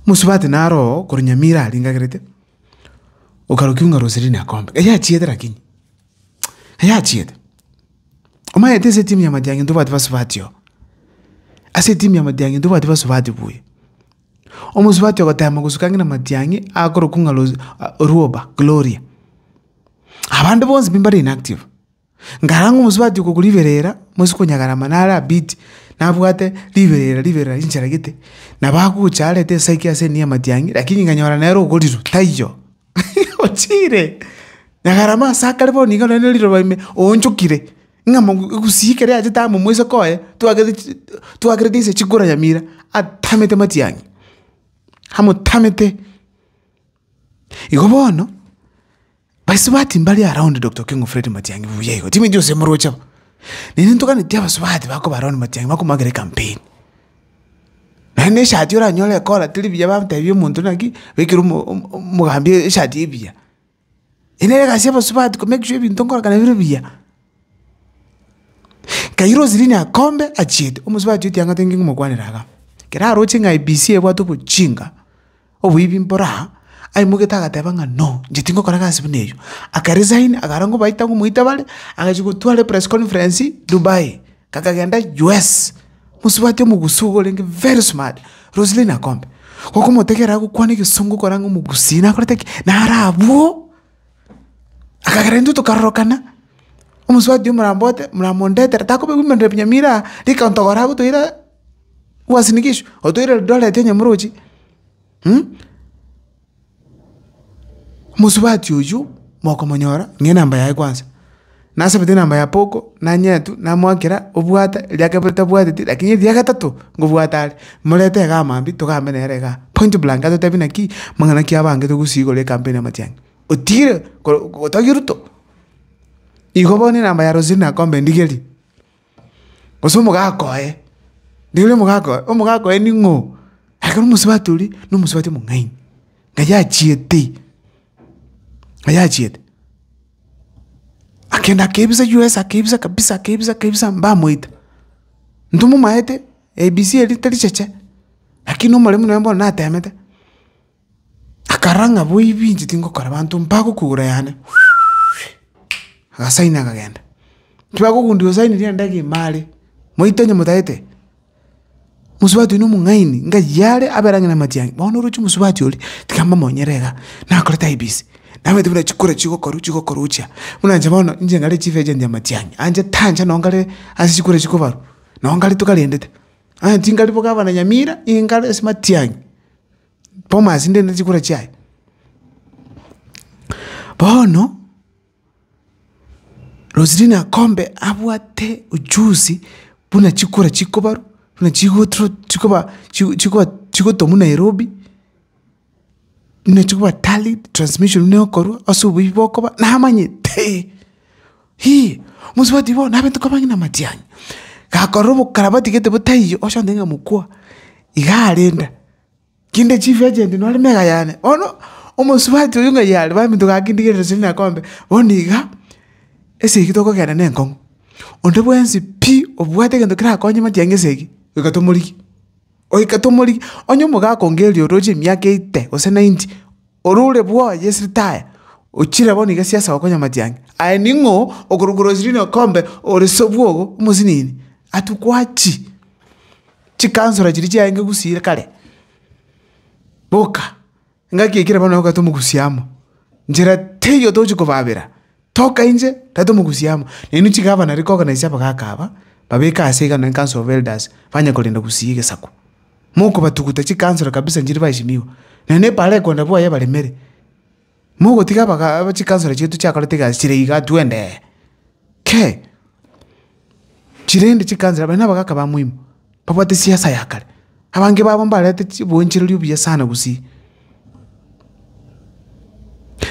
Mosubati naroo korwa nyamira aringagerete, okarokiwa ng'a Roselina Akombe. Iga yachiete lakini, iga yachiete. Omanyete ase etimu ya matiang'i ntobwati basubati oo. Ase etimu ya matiang'i ntobwati basubati buya. Omosubati ogotema gosuka ng'ina matiang'i akorokwa ng'a Rose Orwoba Gloria. Abande bonsi pi mbare inactive. Nkarang'e omosubati okogwa riberera, moise konyagera amano are abidi, nabwate riberera riberera rinchera gete, nabo agocha arete esegi ase enia amatiang'i, rakini nkanyora nere ogorirwe taiyo, ochire! Nyagarama ase akare bono nigo nere riroba ime, oonchokire, ng'a mono egusii ekero yachete amo moise koye, twagete chi twagerete inse chikura nyamira, atamete amatiang'i, amotamete. Igo bono. Basubati mbare around Doctor Okengo Fred Matiangi buya igo, Timmy Jose moroche aba. Nere ntoganeti abasubati bakoba around Matiangi bakomwakera ecampaign. Naende eshati oranyore ekola teri buya bamotebia omonto naki bekire omo- omo- omogambi eshati ebuya. Eye nere egasi y'abasubati ko make sure ebinto nkorakana bire buya. Nkaira Roseline Akombe achiete, omosubati otiang'ata inki ng'omokwanera iga. Kera aroche ng'a IEBC ebwate obochinga. Oboibi mboro aa, aimogete agateba ng'a no, inche tingokora egasi buna eyio. Akaresign, akara ngobaita ngomoita bare, agachia gotwara epress conference Dubai, kakagenda US. Mosubati omogusii iga orenge very smart, Roseline Akombe, gokomotegerera agokwana egesongo okore ang'e omogusii nakorete ki? Nare abwo, akagera intwe tokarorokana, omosubati oyo morambote moramondetere, takoba women rep Nyamira aa, rika ntogoro agotoira. Uasin Gishu, otoire Eldoret onye morochi, mosubati oyio mokomonyora ng'a enamba yaye kwansa. Nasabete enamba ya Poco, nanyetu, namoakera obwate, eria kabere tabwateti lakini eria gatato ngobwate are. Morete igaa mambia togambe nere igaa, point blank atotebi naki, mang'ana ki abange togosii igoro ya ecampaign ya amatiang'i. Otigire gotogia Ruto. Igo bono enamba ya Roselina Akombe ndigerie. Gose omogaka oye, rirorio omogaka oye, omogaka oye ning'o? Ekero omosubati oria, na omosubati omong'aini, na yachiete, na yachiete. Akenda akebisa U.S. akebisa kabisa akebisa kabisa mbamoita. Ntomomaete ABC eria tericheche, lakini omoremu nonya bono natemete. Akarora ng'a boibi inche tingokora abanto mbagokugura yane, agasaini akagenda. Ekero bagogundia osainire ende iga ime are, moito onye motagete, mosubati oino omong'aini, ngaiyo are abere ang'e na amatiangi, bono oroche omosubati oria, tiga mbamonyere iga, nakorete aye busy, nabwate buna chikura chigokorwa chigokorwa gochia. Buna inche bono, inche nare chief agent ya amatiang'i, anche tancha nonye nkare ase chikura chikobarwa, nonye nkare tokarendete. Aya tingari bo gavana nyamira, iga nkare ase matiang'i. Boma ase ndende chikura chiaye. Bono, Roselina kombe abwate uchusi buna chikura chikobarwa, buna chigotro chikoba chigo chigoba chigotomwa Nairobi, buna chikoba tallied, transmission buna egokorwa, ase oboyio bokoba, namanyete. Hii! Mosubati bono abanto k'abang'ina amatianyi. Gakorora obokarabati gete bo taiyo oche ontebie ng'a mokwa, iga arenda. Kinde chief agent nore mega yane. Bono omosubati oyio ng'ai are baminto gakindigerera chiri na kombe, bono iga esegi tokogenda na enkong'u. Onde bwensi pi obwate egento kerakonye matiang'i esegi, goika tomorigie. Goika tomorigi, onye omogakongeria ororoche emiaka eite gose nainti, orore bwoye ase ritaya, ochire bono iga siasa gokonyamatia ang'e. Aye ning'o okorokwa orosiriri na okombe ore sobwogo omosinini? Atu gwachi chikansora chiria chiaenge gusii kare. Boka, Engaki ekero bono naye ogatomogusia amo, nchera teiyo tochi kobaabera, toka inche, tari tomogusie amo. Nainwe chigavana riria koorganisia abagaka aba, babeke aase iga nonya council of elders, banye korenda gusii egesaku. Mokobatuguta chikansoro kabisa nchiria baheshimiwa, nonya na eparekona bwoye ebaremere. Mogotiga abagaaka chikansoro chiaito chiakorete egasi chire igaa, twendee. Kei. Chirende chikaanchera baria nabagaaka bamoimo, babwate siasa ya kare. Abange babo mbarete oboenchereri obuya sana gusii.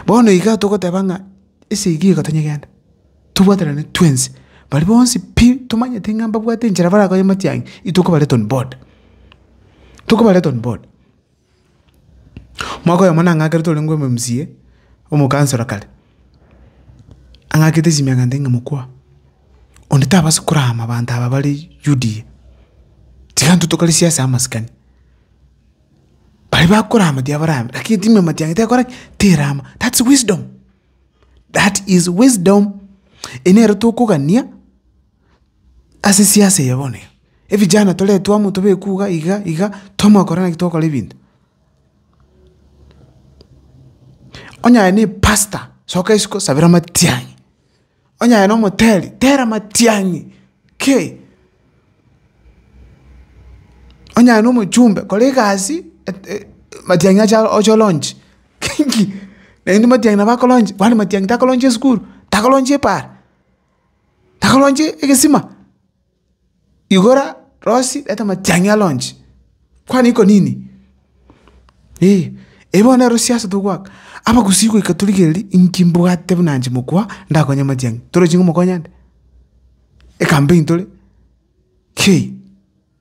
Bono iga togoteba ng'a ase eyio iga tonyegende, tobwaterane twensi, baria bonsi pi tomanyete ng'a mbabwate enchera barakonye amatiang'i, intwe nkobareete on board, tokobareete on board. Mwaka oyomo nang'akerete ore ng'o omcca, omokansoro kare, ang'akete chimiaka nete ng'a mokwa, onde tabasa korama abanto aba bare UDA, tiga intwe tokore siasa ya amasikani. Baria bakorama tiga barame, lakini timu ya matiang'i tekora ki? Terama. That's wisdom, that is wisdom. Eye nere tokogania, Ase siasa eye bono iga, evijana toretwe amo tobekwe iga iga iga, twamanya korora naki togokora ebinto. Onye aye na epastor, soka isiko sabera amatiang'i, onye aye na omoteri, tera amatiang'i kei, onye aye na omochumbe, kora egasi matiang'i acha oche olaunch, naende matiang'i nabo akolaunch, kwani matiang'i takolaunch esukuru, takolaunch epaara. Akaronche egesima, igora rosi reta amatiang'i aronche, kwane iko nini? Eeh, eyi bono nero siasa togoaka, abagusii goika torigereria inki mbwate buna inche mokubua ndakonye amatiang'i, torochi ngomokonya nde? Ekampeni tore? Kei.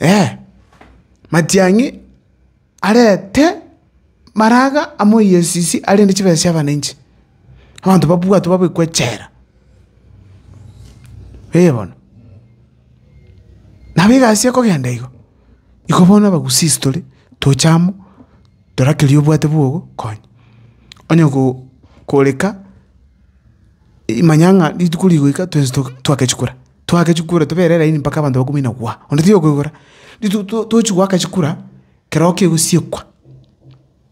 eeh. Matiang'i arete maraga amoyie esisi arende chibesa chia abananchi, abanto babwatwe babekwe echela, eh bono. Nabo egasi ekogenda igo, igo bono abagusii ase tore tocha amo tore kerio obwate bwogo konya. Onye go- koreka, manya ng'a rituko rigoika twensi to- twagachikora. Toake chikura, tobere elaini mpaka abanto bakomoina gwa. Onde taiyo okoigora. Ritu- to- tochi goaka chikura, keroo kegosiekwa,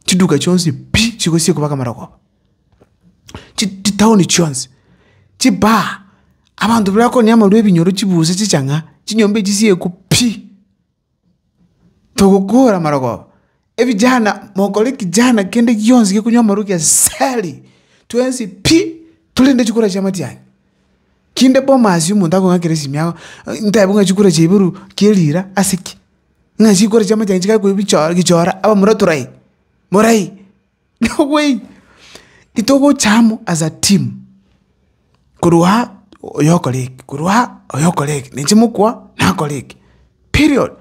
chiduka chionsi pi! chigosiekwa mpaka amarogoba. Chi- chi- chitaoni chionsi, chibaa, abanto bire bakonia amarwa ebinyoro chibusi chichang'a, chinyomba echisiekwe pi! Togokoora amarogo, ebijana mokore ekejana kende gionsi gekonywa amarogo kia asali, twensi pi! Torende chikura chia amatianyi. Kinde boma asio omonto akong'akera esimi yao, ntaebe ng'a chikura chia iboro kia erira ase ki? Ng'a chikura chia amatianyi chigakwa ebichoro gichora abamura torai, morai. Noway itogocha amo as a team korwa aa oyo okore eke korwa aa oyo okore eke nainche mokwa nakore eke period.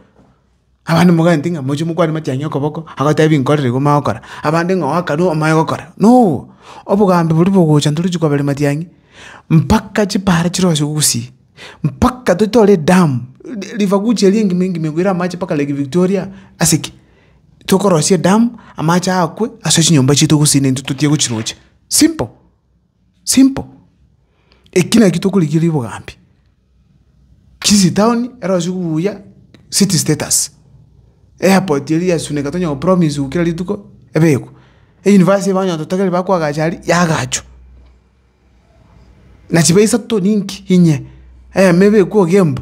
Abande mogaanete ng'a mochie mokwane matiang'i okoboko agotebi nkorire igo omanye gokora abande ng'a oe akarue omanye gokora no obogambi boria bogocha ntorochi koberi matiang'i mpaka chipara chirose gusii mpaka totore edamu river guchi eria engima engima egoire amache mpaka lake Victoria ase ki. tokorosia edamu, amache akwe ase chinyomba chiaito gose intwe totige gochirocha. Simple, simple. Eki nakio tokorigereria obogambi. Kisii town erosie buya city status, airport eria yasuneka tonya kopromiswa kera rituko ebekwe, euniversity eba onye totogereire bakoagacha aria yaagachwa. Nachibe isato ninki inye, eyemo ebekwe ogembe.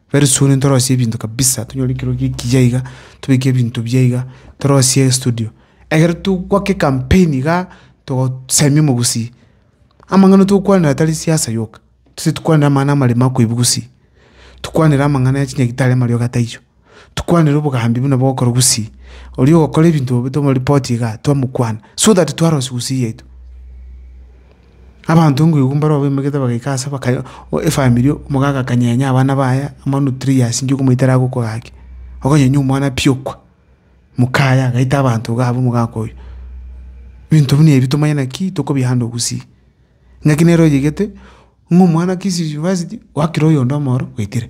Very soon ntorosie ebinto kabisa tonyore ekero giki ekiya iga tobeke ebinto biya iga torosie estudio ekero togwake ecampaign igaa togosemia omogusii amang'ana togokwanera tari siasa yoka tose tokwanere amang'ana amarembe akoibu gusii tokwanere amang'ana ya chinyagitari amarioka taiyo tokwanere obogambi buna bogokorwa gusii oria ogokora ebinto obe tomorepoti igaa twamokwana so that twarosiwu gusii yaito. Abanto nkoigwa mbare bamoimegete bagaika ase bakayo efamiri omoka agakanyenya abana baye manu three years nki okomoita ere agokwa gaki, okonyenya omwana pi okwa, mokaye agaita abanto iga abwo omogaka oyo. Ebinto buna ebi tomanye naki tokobihanda ogusii. Ng'aki nere oyegete ng'a omwana kisi university wakire oyonde omoro gwaitire.